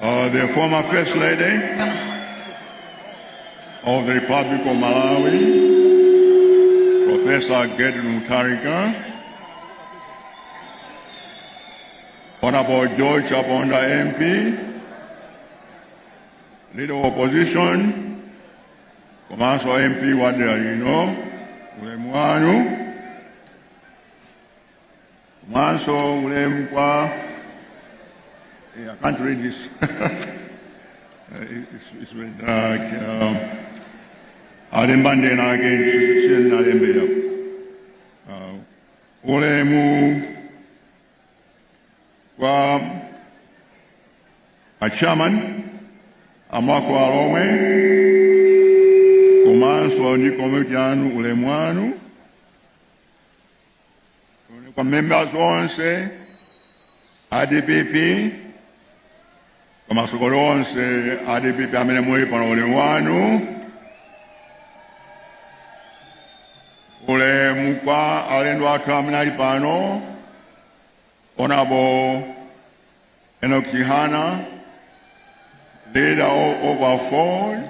Uh, the former First Lady of the Republic of Malawi, Professor Gertrude Mutharika, Honorable George Chaponda MP, Leader of Opposition, Komanso MP wa dera lino, ulemu wanu, komanso ulemu kwa eh, I can't read this. Uh, it- it's, it's very dark. Uh, alemba ndena ake siyeni nalembera uh, ulemu kwa achairman a Mulhako Alhomwe komanso ndi komiti yanu ulemu wanu kwa members onse a dpp kwa masapota onse a dpp amene muli pano ulemu wanu ulemu kwa alendo athu amene ali pano honorable Enoch Chihana leader of AFORD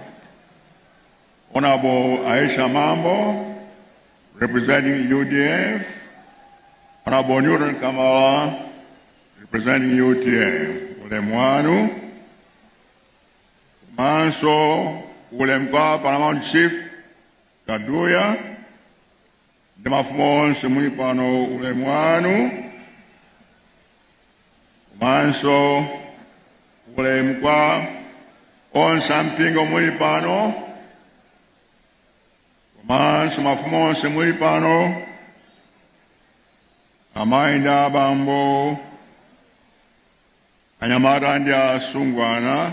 Honorable Aisha Mambo, representing UDF. Honorable Newton Kamala, representing UTF. Ulemu wanu komanso ulemu kwa Paramount Chief Kaduya ndi mafumu onse muli pano ulemu wanu komanso ulemu kwa onse ampingo muli pano komanso mafumu onse muli pano amayi ndi abambo anyamata ndi asungwana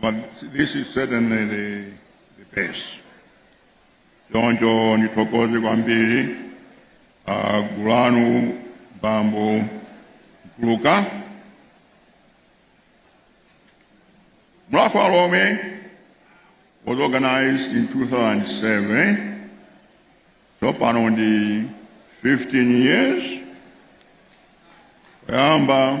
But this is certainly the, the best. Choncho ndithokoze kwambiri ah, gulu lanu bambo Mpuluka. Mulhako Alhomwe was organized in 2007. Tsopano ndi 15 years. Kuyamba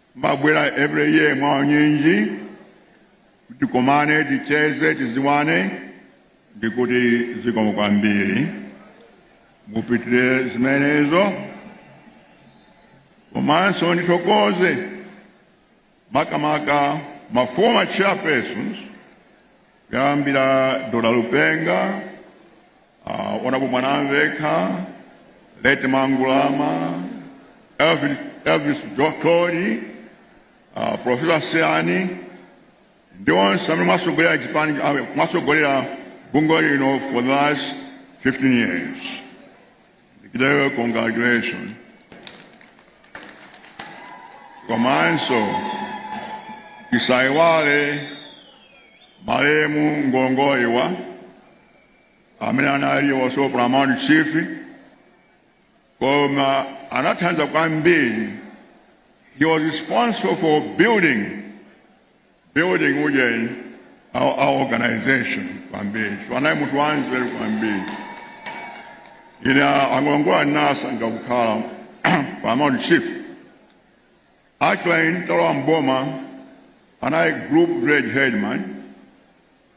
Timabwera every year mwa unyinji tikomane ticheze tiziwane ndikuti zikomo kwambiri mupitire zimenezo komanso ndithokoze makamaka ma former chairpersons kuyambira dr lipenga uh, honorable mwanamvekha late mangulama elvis, elvis thodi uh, profesa seyani ndi onse amene mwasogolera chipani mwasogolera bungweli for the last 15 years Gidewe, congratulations. Komanso tisaiwale malemu Ngolongoliwa amene anali was our Paramount Chief koma anathandiza kwambiri. He was responsible for building building ujeni our, our organization kwambiri chifukwa anali munthu wanzeru kwambiri ine a Ngolongoliwa nasankha kukhala paramount chief actually nditalowa mboma anali group village headman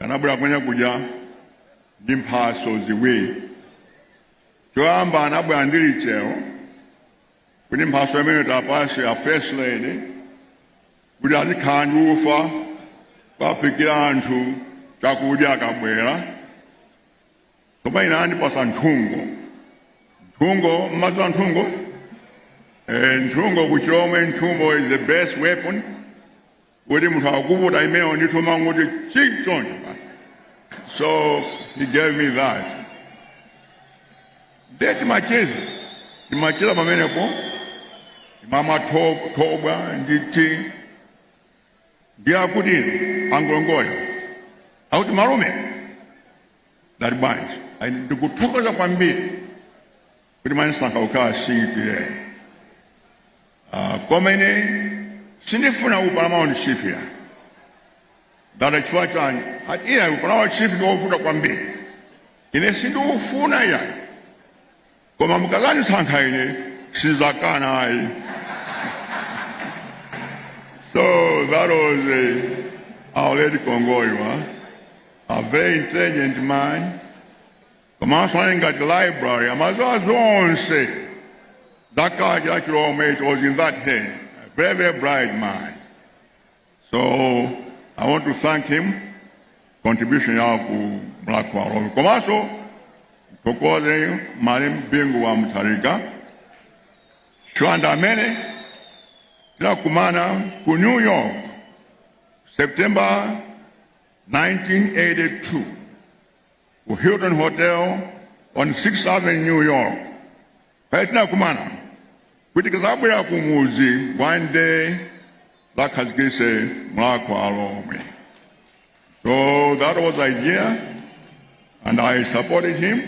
anabwera kumene kuja ndi mphaso ziwiri choyamba anabwera ndi lichero kuti mphaso imene tapasa a first lady kuti azikhala ndi ufa kuwaphikira anthu chakudya akabwera koma ine anandipasa nthungo nthungo mmadziwa nthungo Eh, nthungo kuchilomwe nthungo is the best weapon kuti munthu akuvuta imeneyo ndithu mangoti chi choncho basi so he gave me that nde timacheza timacheza pamenepo timamwa tho- thobwa ndi tea ndiye akuti a Ngolongoliwa akuti malume ndati bwanji Ayi, ndikuthokoza kwambiri kuti mwanisankha kukhala STA uh, koma ine sindifuna u paramount chief iya ndati chifukwa chani ati iya u paramount chief ndi wovuta kwambiri ine sindiufuna iya koma mukazandisankha ine sizakana ayi so that was uh, our late Ngolongoliwa a very intelligent man komanso anali ngati library amaziwa zonse za culture ya chilomwe it was in that head a very very bright man so i want to thank him contribution yawo ku Mulhako wa Alhomwe komanso ndithokoze malemu bingu wa mutharika chifukwa ndi amene tinakumana ku new york september 1982 ku Hilton Hotel on 6th Avenue, New York. Pamene tinakumana kuti tikazabwera ku mudzi one day tizakhazikise Mulhako wa Alhomwe. So that was the idea and I supported him.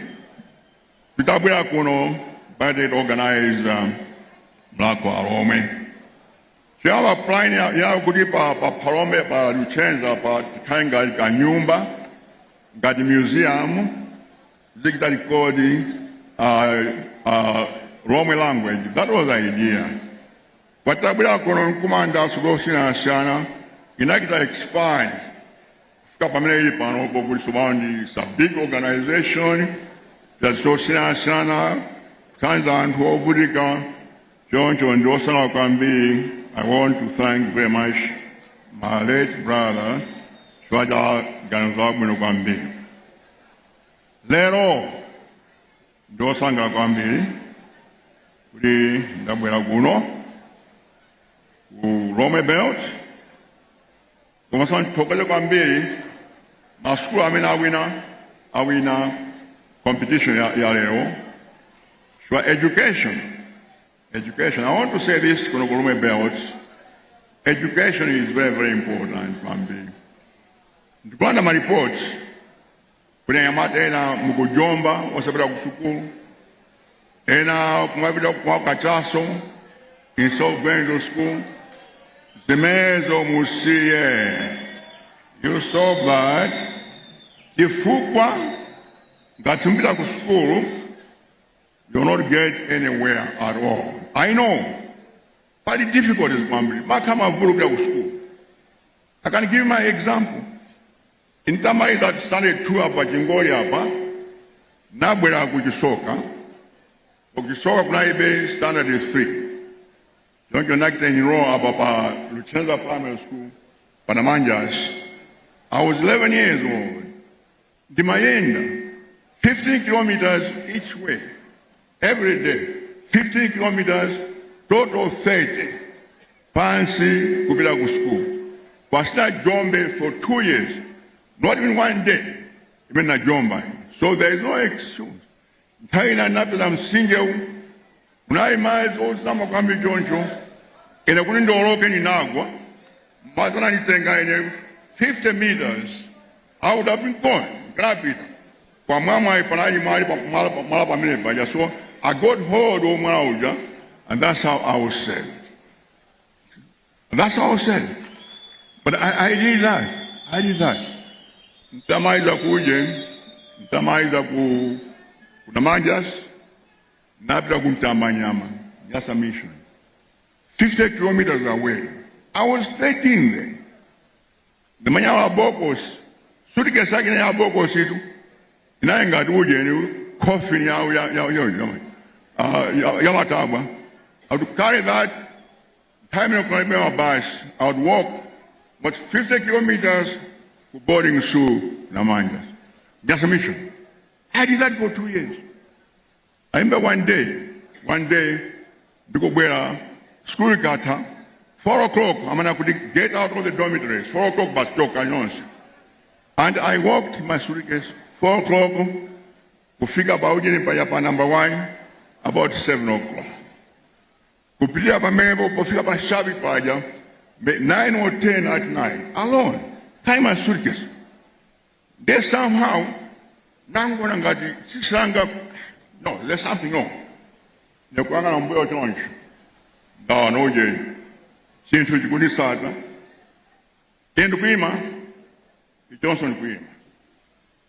Titabwera kuno, anachita organize um, Mulhako wa Alhomwe. Choyamba plan ya- yawo kuti pa pa Phalombe pa Luchenza pa tikhale ngati ka nyumba ngati museum tizichita record uh, uh, Lhomwe language that was the idea koma titabwera kuno nkumanga sukulu osiyanasiyana inachita expand kufika pamene ili pano pokuti tsopano ndi it's a big organization that's zosiyanasiyana kuthandiza anthu ovutika Choncho ndine osangalala kwambiri. I want to thank very much my late brother chifukwa cha ganizo labwino kwambiri. Lero ndine osangalala kwambiri kuti ndabwera kuno ku Lhomwe Belt komanso ndithokoze kwambiri masukulu amene awina awina competition ya, ya lero so education education i want to say this kuno ku Lhomwe belt education is very very important kwambiri ndikuona ma reports Kuti anyamata ena mukujomba osapita ku sukulu ena kumapita kwa kachaso instead of going to school zimezo musiye you stop that chifukwa ngati simupita ku sukulu you will not get anywhere at all i know pali difficulties kwambiri maka mavuto kupita ku sukulu i can give my example Nditamaliza standard 2 apa chingoli apa nabwera kuchisoka kuchisoka kunalibe standard 3 choncho nachita enroll apa pa Luchenza Primary School panamanjas I was 11 years old ndimayenda 15 kilometers each way every day 15 kilometers total 30 pansi kupita ku sukulu osajomba for two years not even one day imene najomba so there is no excuse nthawi ina napeza mtsinjewu unali madzi ozama kwambiri choncho ine kuti ndioloke ndinagwa, madzi ananditenga ine 50 meters I would have been gone. Ndapita. Koma mwamwayi panali mwala pa mwala pa mwala pamene paja. So I got hold of mwala uja and that's how I was saved. That's how I was saved. But I, I did that. I did that. Nitamaliza ku uje, nitamaliza ku Namanjasi, napita ku Mtambanyama, Nyasa mission. 50 kilometers away. I was 13 then. ndimanya wa bokosi sutikesi yake ya bokosi tu inaye ngati ujeni coffin yawo ya- ya- ya- ya- ah, ya- yamatabwa i would carry that time yokunalibe mabasi i would walk about 50 kilometers ku boarding school namanja just a mission i did that for two years Aimba one day, one day, ndikubwera school ikatha 4 o'clock amana kuti get out of the dormitories 4 o'clock basi choka nonse and i walked my suitcase 4 o'clock kufika pa ujeni paja pa number 1 about 7 o'clock kupitia pamenepo pofika pa shabi paja 9 or 10 at night alone tie my suitcase Nde somehow ndinangoona ngati tsitsi langa no there's something wrong ndikuyang'ana mbuyo choncho ndaona uje chinthu chikunditsata ine ndikuyima ichonso ndikuyima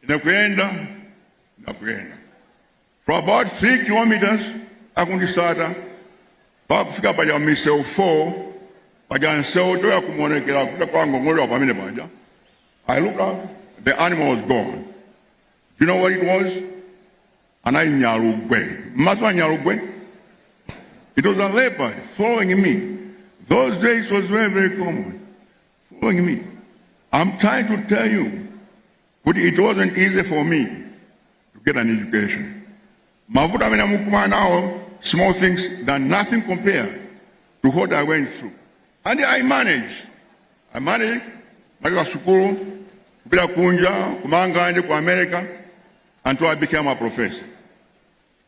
ine kuyenda nachonso kuyenda for about 3 kilometers akundisata pa kufika paja misewu 4 paja nsewu toya kumonekera kuta kwa ngong'olewa pamene paja i look up the animal was gone you know what it was anali nyalugwe mmaso a nyalugwe it was a leopard following me those days was very very common following me i'm trying to tell you kuti it wasn't easy for me to get an education mavuto amene mukukumana nawo small things that nothing compared to what i went through and i managed i managed kumaliza sukulu kupita kunja ku Mangalande ku America until i became a professor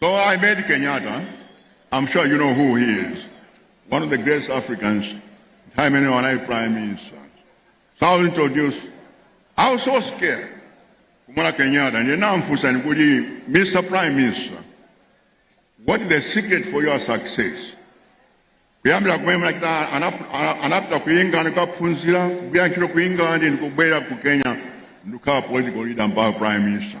So I met Kenyatta. I'm sure you know who he is. One of the greatest Africans, timene anali prime minister. So I was introduced. I was so scared. Kumuona Kenyatta, ndinamufunsa kuti Mr. Prime Minister, what is the secret for your success? kuyambira kumene anapita ku england kukaphunzira kugwira ntchito ku england ndikubwera ku kenya ndikukhala political leader mpaka prime minister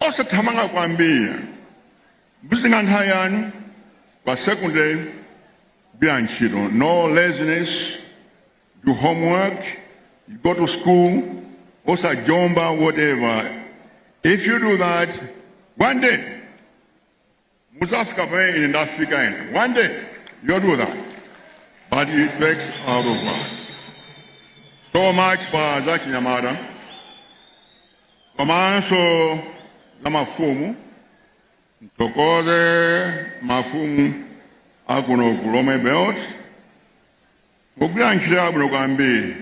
osathamanga kwambiri muzitenga nthawi yanu pa secondary gwirani ntchito no laziness do homework you go to school osajomba whatever if you do that one day Mudzafika pamene ine ndafika ine. One day you'll do that. But it takes a lot of work. So much pa za chinyamata komanso za mafumu mtokoze mafumu akuno ku Lomwe Belt mukugwira ntchito yabwino kwambiri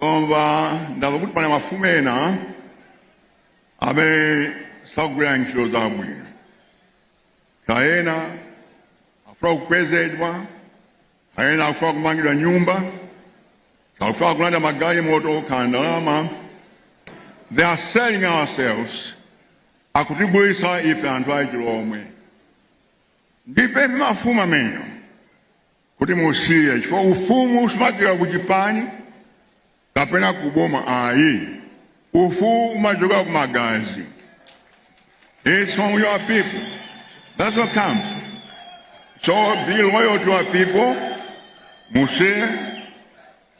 koma ndamva kuti pali mafumu ena amene sakugwira ntchito zabwino kaya akufuna kukwezedwa kaya akufuna kumangidwa nyumba kaya akufuna kulandira magalimoto kaya ndalama they are selling ourselves akutigulitsa ife anthu achilomwe ndipemphe mafumu amenewo kuti musiye chifukwa ufumu usimachoka ku chipani kapena ku boma ayi ufumu umachoka ku magazi it's from your people that's what comes so be loyal to your people musiye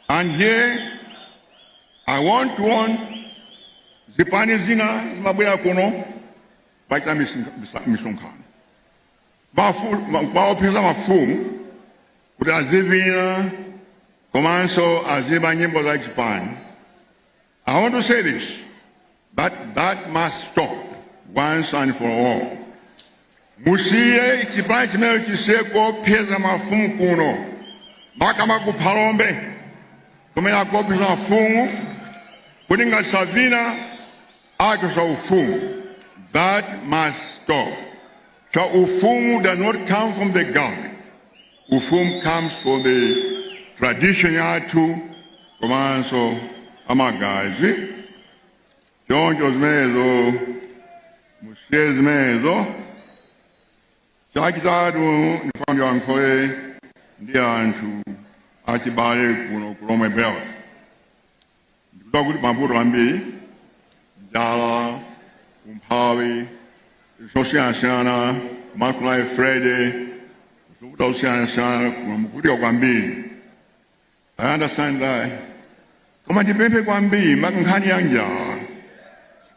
and here i want to warn zipani zina zimabwera kuno pochita misonkhano kuwaopseza mafumu kuti azivina komanso aziimba nyimbo za chipani i want to say this that must stop once and for all musiye chipani chimeneyo chisiye kuopseza mafumu kuno makamaka ku phalombe kumene akuopseza mafumu kuti ngati savina Achotsa ufumu that must stop. Chifukwa ufumu does not come from the government. Ufumu comes from the tradition yathu komanso amagazi. Choncho zimenezo musiye zimenezo chachitatu ndifuna ndiyankhule ndi anthu achibale kuno ku Lomwe Belt. ndikudziwa kuti mavuto ambiri njala umphawi zosiyanasiyana ma July Friday zovuta zosiyanasiyana mukuvutika kwambiri i understand that koma ndipemphe kwambiri maka nkhani ya njala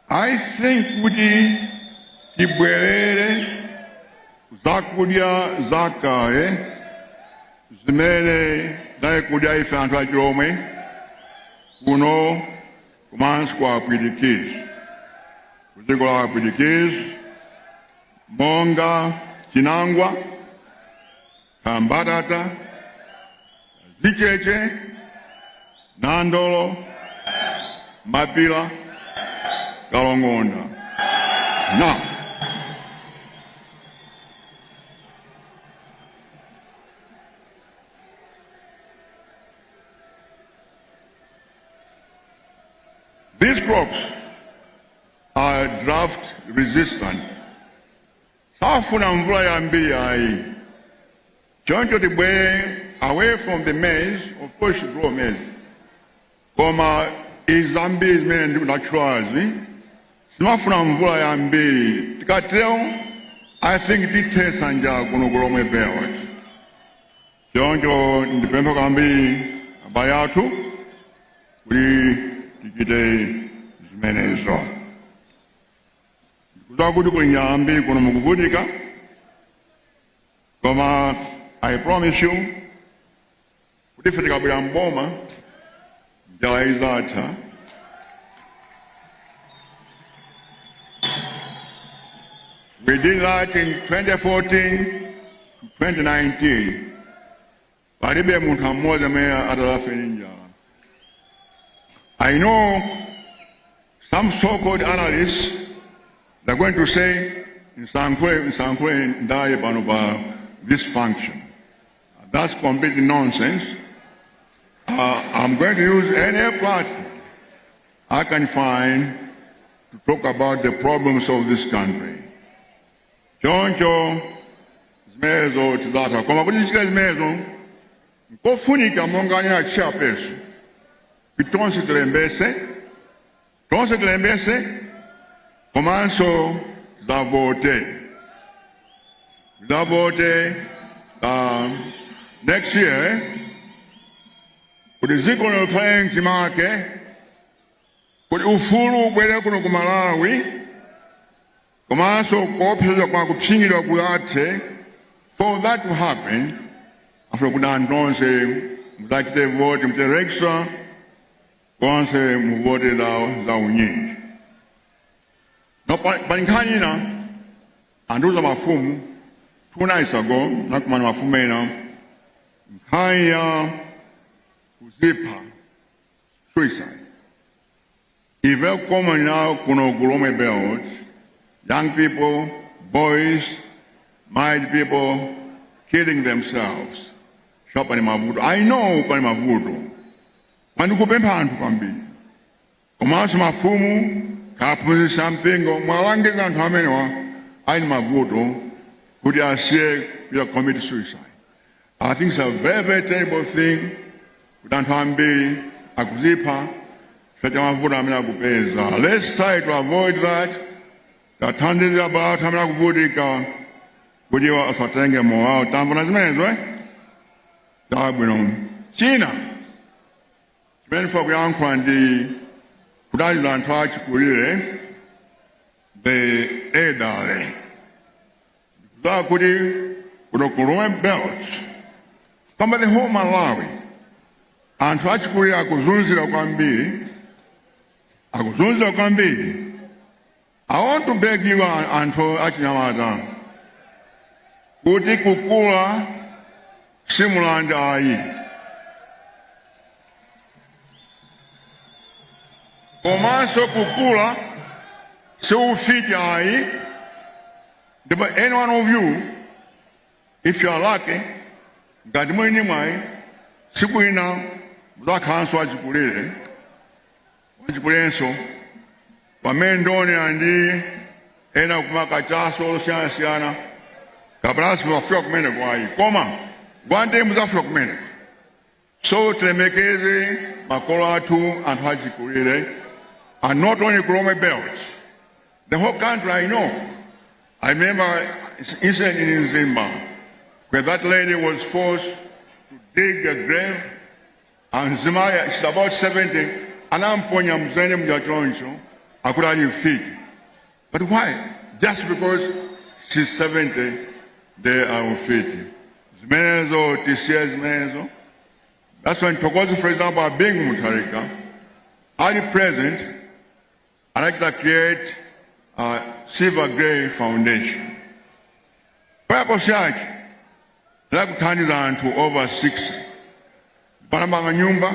I think kuti tibwerere zakudya zakale zimene tinali kudya ife anthu achilomwe kuno komanso kwa apwitikizi kudziko la apwitikizi monga chinangwa ka mbatata zicheche nandolo mapila kalongonda na These crops are drought resistant safuna mvula yambiri ayi choncho tibwere away from the maize of course you grow maize koma izi zambiri zimene ndinatchulazi sizimafuna mvula yambiri tikatero i think tithesa njala kuno kulomwe belt choncho ndipempha kwambiri abale athu kuti tichite zimenezo Ndikudziwa kuti kuli njala yambiri kuno mukuvutika, koma I promise you kuti ife tikabwera mboma njala izatha. We did that in 2014 to 2019. palibe munthu mmodzi amene adzafe ndi njala i know some so called analysts they're going to say ndisalankhule ndisalankhule ndale pano pa this function that's complete nonsense uh, i'm going to use any platform i can find to talk about the problems of this country choncho zimenezo tidzatha koma kuti tichite zimenezo nkofunika monga anena a chairperson kuti tonse tilembetse tonse tilembetse komanso tidzavote tidzavote um, next year kuti dziko likhale mchimake kuti ufulu ubwere kuno ku malawi komanso kuopsezedwa kwa kupsinjidwa kuthe for that to happen afuna kuti anthu onse muzachite vote mmatera konse muvote mwa unyinji now pa pa nkhani ina andiuza mafumu two nights ago nakumana mafumu ena nkhani ya kuzipha suicide It's very common now, kuno ku Lhomwe Belt, young people, boys, married people, killing themselves. Sure pali mavuto. I know pali mavuto. Koma ndikupempha anthu kwambiri. Komanso mafumu aphunzitsi a mpingo muwalangize anthu amenewa ali ndi mavuto kuti asiye kuya commit suicide. I think it's a very, very terrible thing kuti anthu ambiri akuzipha chifukwa cha mavuto amene akupeza. Let's try to avoid that. Tithandize abale athu amene akuvutika kuti asatenge moyo wawo. Tamvana zimenezo eh? Chabwino. China chimene ndifuna kuyankhula ndi kudalira anthu achikulire the elderly. Ndikudziwa kuti kuno ku Lhomwe Belt kapena the whole Malawi anthu achikulire akuzunzidwa kwambiri akuzunzidwa kwambiri I want to beg you anthu achinyamata kuti kukula si mulandu ayi komanso kukula si ufiti ayi ndipo any one of you if you are lucky ngati muli ndi mwayi tsiku lina mudzakhalanso achikulire achikulirenso, pamene ndaona anthu ena akumwa kachaso osiyanasiyana kapena simuzafika kumeneko ayi koma one day muzafika kumeneko so tilemekeze makolo athu anthu achikulire and not only ku Lhomwe belt the whole country I know I remember incident in Mzimba where that lady was forced to dig a grave A mzimayi she's about 70 anamponya m'dzenje muja choncho akuti ali mfiti but why just because she's 70 ndiye mfiti zimenezo tisiye zimenezo that's why ndithokoze for example a Bingu Mutharika ali president anachita create Silver Grey Foundation. Purpose yake inali kuthandiza anthu over 60 anamanga nyumba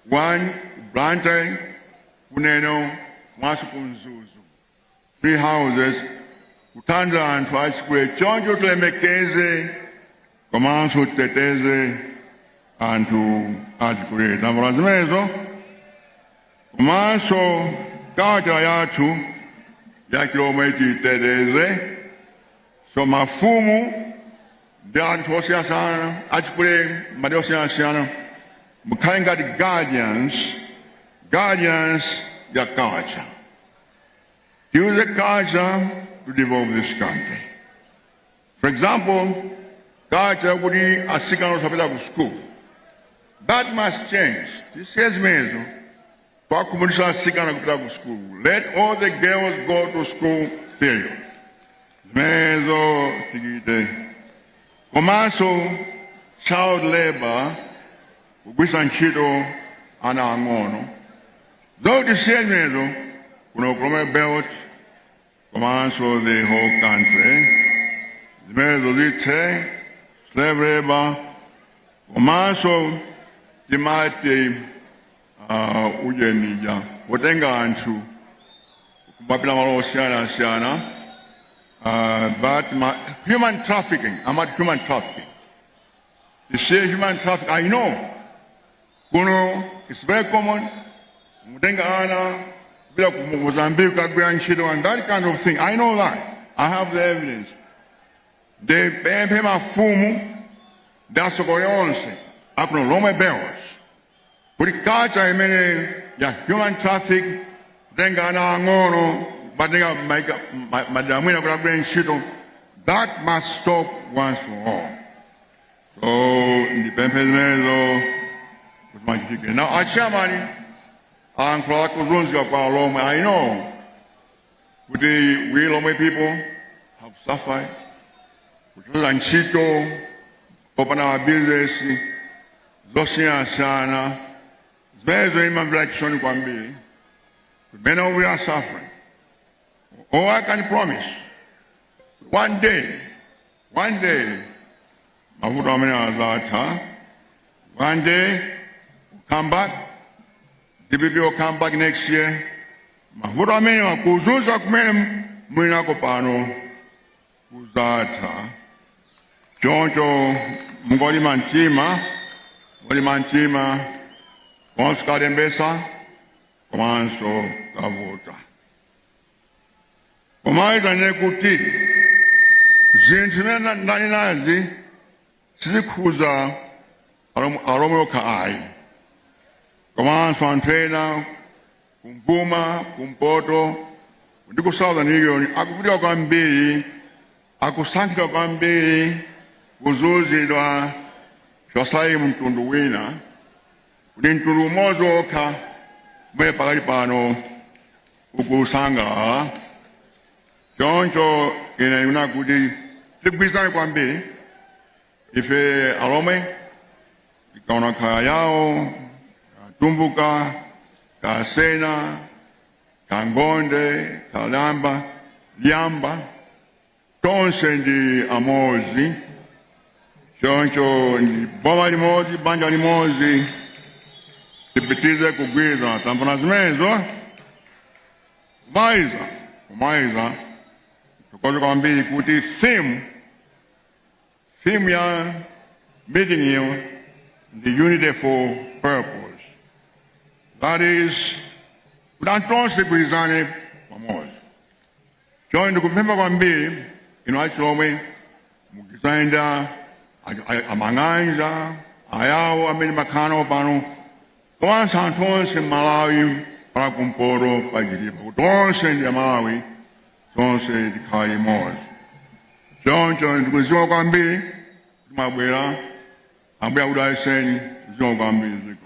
1 ku Blantyre ku Neno komanso ku Mzuzu three houses kuthandiza anthu achikulire choncho tilemekeze komanso titeteze anthu achikulire tambo la zimenezo komanso culture yathu ya Chilomwe titeteze so mafumu ndi anthu osiyanasiyana achikulire malo osiyanasiyana mukhale ngati guardians guardians ya culture use the culture to develop this country For example, culture kuti asikana osapita ku school. That must change. Tisiye zimenezo. Kwakumuletsa asikana kupita ku school. Let all the girls go to school period. Zimenezo tichite. Komanso child labor kugwisa ntchito ana ang'ono. So tisiye zimenezo kuno ku Lomwe belt komanso the whole country zimenezo zithe slave labor komanso timati uh, ujeni uja kutenga anthu kumapita nawo malo osiyanasiyana uh, but ma, human trafficking amati human trafficking you see human trafficking i know Kuno it's very common kutenga ana kupita ku Mozambique kukagwira ntchito and that kind of thing. I know that. I have the evidence. Nde ndipemphe mafumu ndi atsogoleri onse akuno Lomwe Belt kuti culture imene ya human traffic kutenga ana ang'ono kuwatenga maika- ma- madera ena kuti agwire ntchito that must stop once for all. So ndipemphe zimenezo kuti zimachitike. Now, a chairman ayankhula za kuzunzika kwa Alomwe. I know kuti we Lomwe people have suffered kuchotsedwa ntchito kupanda mabizinesi zosiyanasiyana zimenezo timamvera chisoni kwambiri mmene we are suffering. All I can promise one day One day mavuto amene azatha. One day we'll come back. DPP will come back next year. Mavuto amene akuzunzika kumene mulinako pano kuzatha. Choncho mungolima mtima, mungolima mtima komanso kukalembetsa komanso kukavota. pomaliza ndinene kuti zinthu zimene na- ndanenazi sizikhuza alom- alomwe okha ayi komanso anthu ena kumvuma kumpoto ndi ku southern region akuvutika kwambiri akusankhidwa kwambiri kuzunzidwa chonchi ayi mtundu wina kuti mtundu umodzi wokha umene pakali pano ukusangalala choncho ine ndikufuna kuti tigwirizane kwambiri ife alomwe kachewa kayawo katumbuka kasena kangonde kalamba lyamba tonse ndi amodzi choncho ndi boma limodzi banja limodzi tipitirize kugwirizana tambona zimenezo kumaliza kumaliza ndithokoze kwambiri kuti theme theme ya meeting iyi ndi unity for purpose that is kuti anthu tonse tigwirizane pamodzi Choncho ndikupempha kwambiri inu alomwe mugwirizane ndi a- a- a- amang'anja ayawo amene mumakhala nawo pano komanso anthu onse m'malawi pa kumpoto pa chitipa kuti onse ndi amalawi tonse tikhale limodzi choncho ndikuthokoza kwambiri kuti mwabwera ambuye akudalitseni zikomo kwambiri ziko